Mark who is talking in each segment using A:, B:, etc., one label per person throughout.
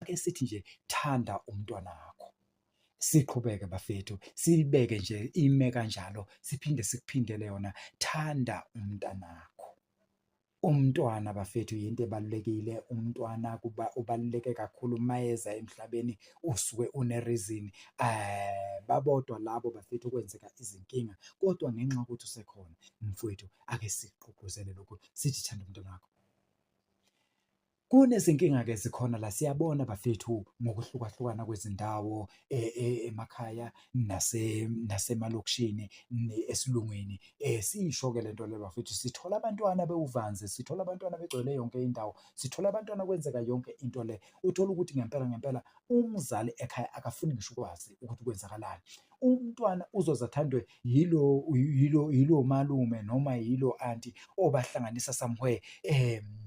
A: ake sithi nje thanda umntwana wakho siqhubeke bafethu silibeke nje ime kanjalo siphinde sikuphindele yona thanda umntanakho umntwana bafethu yinto ebalulekile umntwana kuba ubaluleke kakhulu mayeza emhlabeni usuke une reason eh babodwa labo bafethu kwenzeka izinkinga kodwa ngenxa ukuthi usekhona mfowethu ake siqhugquzele lokho sithi thanda umntwana wakho Kunezinkinga-ke ezikhona la siyabona bafethu ngokuhlukahlukana kwezindawo e, e, emakhaya nasemalokishini esilungwini. Eh, siyisho-ke le nto le bafethu, sithola abantwana bewuvanzi, sithola abantwana begcwele yonke indawo, sithola abantwana kwenzeka yonke into le. Uthole ukuthi ngempela ngempela umzali ekhaya akafuni ngisho ukwazi ukuthi kwenzakalani. Umntwana uzoze athandwe yilo yilo yilo malume noma yilo anti obahlanganisa somewhere um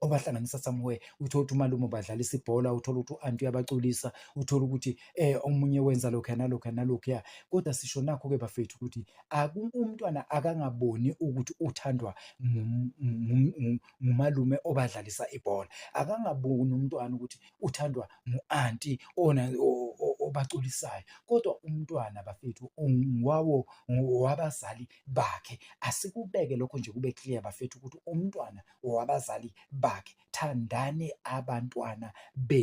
A: obahlanganisa somewhere uthole ukuthi umalume ubadlalisa ibhola uthole ukuthi u-anti uyabaculisa uthole ukuthi eh omunye wenza lokhu nalokhu nalokhu ya kodwa sisho nakho ke bafethu ukuthi umntwana akangaboni ukuthi uthandwa ngumalume obadlalisa ibhola akangaboni umntwana ukuthi uthandwa ngu-anti ona obaculisayo kodwa umntwana bafethu wawo wabazali bakhe asikubeke lokho nje kube clear bafethu ukuthi umntwana owabazali bakhe thandani abantwana be